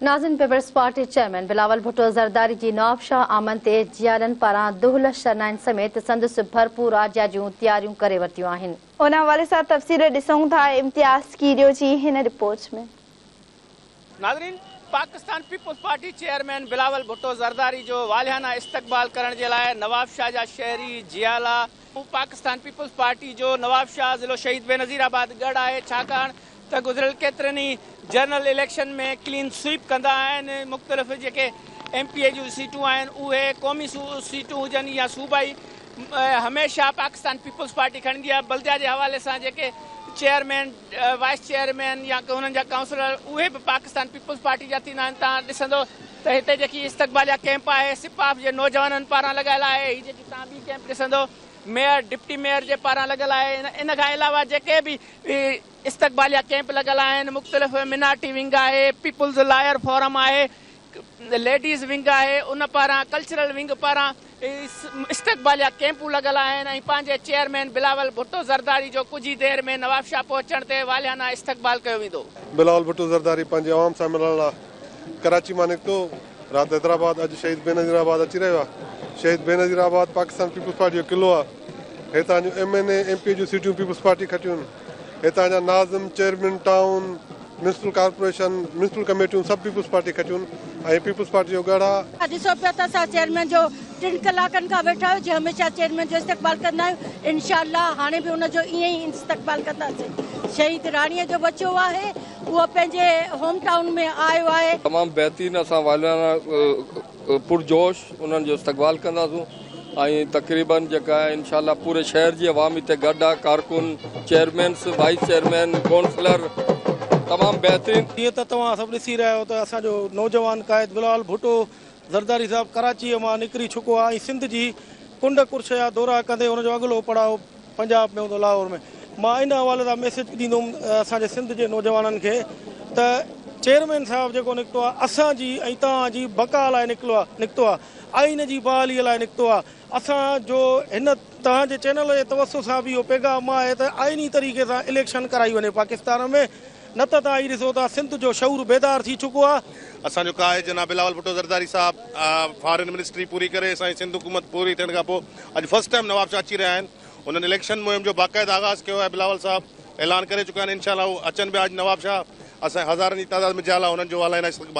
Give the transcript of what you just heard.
ناظرين peoples party chairman Bilawal Bhutto Zardari جي نوابشاهه آمد تي جيئارن پاران دهل شرنائن سميت سندس ڀرپور آجيا جون تياريون ڪري ورتيون آهن. ان حوالي سان تفصيل ڏسون ٿا امتياز ڪيريو جي هن رپورٽ ۾. ناظرين Pakistan peoples party chairman Bilawal Bhutto Zardari جو والهانه استقبال ڪرڻ جي لاء نوابشاهه جا شهري جيالا، هو پاڪستان پيپلز پارٽي جو نوابشاهه ضلعو شهيد بينظير آباد ڳڙهه آهي ڇاڪاڻ ته گذريل ڪيترن ئي جنرل اليڪشن ۾ ڪلين سوئيپ ڪندا آهن مختلف جيڪي ايم پي اي جون سيٽون آهن اهي قومي سيٽون هجن يا صوبائي هميشه پاڪستان پيپلز پارٽي کڻندي آهي بلديا جي حوالي سان جيڪي چيئرمين وائيس چيئرمين يا انهن جا ڪائونسلر اهي به پاڪستان پيپلز پارٽي جا ٿيندا آهن تان ڏسندو ته هتي جيڪي استقباليه ڪئمپ آهي سپاف جي نوجوانن پاران لڳايل آهي هي جيڪي تان ٻي ڪئمپ ڏسندو ميئر ڊپٽي ميئر جي پاران لڳل آهي ان کان علاوه جيڪي به استقباليه ڪئمپ لڳل آهن مختلف منارٽي ونگ آهي پيپلز لائر فورم آهي ليڊيز ونگ آهي ان پاران ڪلچرل ونگ پاران استقباليه ڪيمپون لڳل آهن ۽ پنهنجي چيئرمين بلاول ڀٽو زرداري جو ڪجهه ئي دير ۾ نوابشاهه پهچڻ تي والهانه استقبال ڪيو ويندو. بلاول ڀٽو زرداري پنهنجي عوام سان ملڻ لاء ڪراچي مان نڪتو رات حيدرآباد اڄ شهيد بينظير آباد اچي رهيو آهي Shaheed Benazirabad Pakistan peoples party جو قلعو آهي هتان جون M N A M P A جون سيٽون پيپلز پارٽي کٽيون هتان جا ناظم chairman town municipal corporation, municipal ڪميٽيون سڀ پيپلز پارٽي کٽيون ۽ پيپلز پارٽي جو ڳڙهه. ها ڏسو پيو ته اسان چيئرمين جو ٽن ڪلاڪن کان ويٺا آهيون جي هميشه چيئرمين جو استقبال ڪندا آهيون انشاء الله هاڻي به ان جو ائين ئي استقبال ڪنداسين شهيد راڻي جو ٻچو آهي اهو پنهنجي هوم ٽائون ۾ آيو آهي. تمام بهترين اسان واليانا. پرجوش انهن جو استقبال ڪنداسون ۽ تقريبا جيڪا انشاء الله پوري شهر جي عوام هتي گڏ آهي ڪارڪن چيئرمينس وائيس چيئرمين ڪونسلر تمام بهترين جيئن ته توهان سڀ ڏسي رهيا آهيو ته اسان جو نوجوان قائد بلال ڀٽو زرداري صاحب ڪراچيء مان نڪري چڪو آهي ۽ سنڌ جي ڪنڊ ڪرش جا دورا ڪندي ان جو اڳلو پڙاء پنجاب ۾ هوندو لاهور ۾ مان ان حوالي سان ميسيج ڏيندوم اسان جي سنڌ جي نوجوانن کي ته چيئرمين صاحب جيڪو نڪتو آهي اسان جي ۽ توهان جي بقا لاء نڪلو آهي نڪتو آهي آئين جي بحالي لاء نڪتو آهي اسان جو هن توهان جي چينل جي توسط سان به اهو پيغام آهي ته آئيني طريقي سان اليڪشن ڪرائي وڃي پاڪستان ۾ نه ته توهان هي ڏسو ته سنڌ جو شعور بيدار ٿي چڪو آهي. اسان جو ڪاهي جناب بلاول ڀٽو زرداري صاحب فارين منسٽري پوري ڪري اسان جي سنڌ حڪومت پوري ٿيڻ کان پوء اڄ فرسٽ ٽائيم نواب شاهه اچي رهيا آهن انهن اليڪشن مهم جو باقاعده آغاز ڪيو آهي بلاول صاحب اعلان ڪري چڪا آهن انشاء الله هو اچن پيا اڄ نواب شاهه اسان جي هزارن جي تعداد ۾ جيالا انهن جو والائنا استقبال